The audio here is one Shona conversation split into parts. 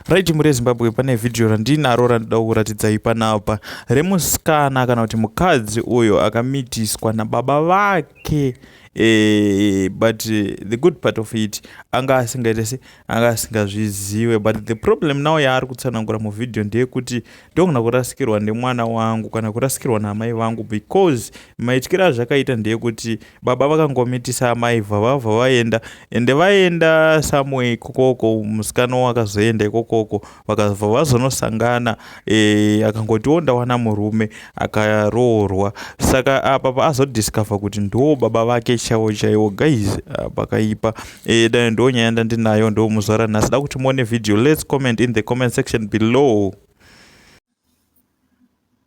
Right mure Zimbabwe pane video randinaro randida kuratidzai panapa remusikana kana kuti mukadzi uyo akamitiswa nababa vake eh, but eh, the good part of it anga asingaite se anga asingazvizive but the problem now yaari kutsanangura muvideo ndeyekuti ndogona kurasikirwa nemwana wangu kana kurasikirwa naamai vangu because maityira azvakaita ndeyekuti baba vakangomitisa amai vavavha vaenda ende vaenda samwe ikokoko musikana wakazoenda ikokoko vakabva vazonosangana e, akangotiwo ndawana murume akaroorwa saka apa paazodiscover kuti ndo baba vake chaiwo chaiwo guys ah, pakaipa e, dai ndo nyaya ndandinayo ndo muzvara nhasi da kuti muone video let's comment in the comment section below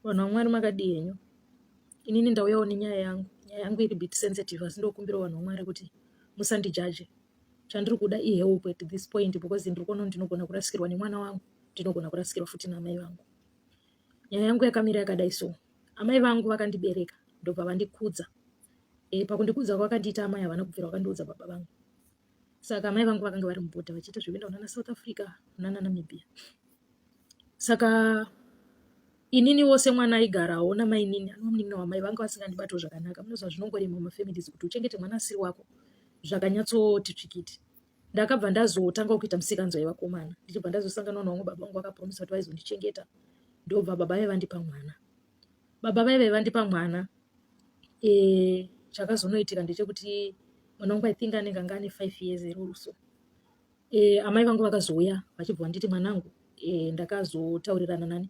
Vanhu vaMwari makadii henyu. Inini ndauyawo nenyaya yangu. Nyaya yangu iri bit sensitive asi ndokumbirawo vanhu vaMwari kuti musandijaje. Chandiri kuda ihelp at this point because ndiri kuona kuti ndinogona kurasikirwa nemwana wangu, ndinogona kurasikirwa futi naamai vangu. Nyaya yangu yakamira yakadai so. Amai vangu vakandibereka ndobva vandikudza. E, pakundikudza kwakandiita amai havana kubvira vakandiudza baba vangu. saka amai vangu vakanga vari mubhodha vachiita zvekuenda kunana south africa kunana namibia saka inini wose mwana aigarawo namainini anomunin'ina wamai vanga vasingandibatiwo zvakanaka munoziva zvinongorema mumafamilies kuti uchengete mwana asiri wako zvakanyatsoti tsvikiti ndakabva ndazotanga kuita musikanzwa yevakomana ndichibva ndazosanganwa navamwe baba vangu vakapromisa kuti vaizondichengeta ndobva baba vevandipa mwana baba vaive vandipa mwana e, chakazonoitika ndechekuti mwana wangu i think anenge anga ane five years ero or so e, amai vangu vakazouya vachibva vanditi mwanangu e, ndakazotaurirana nani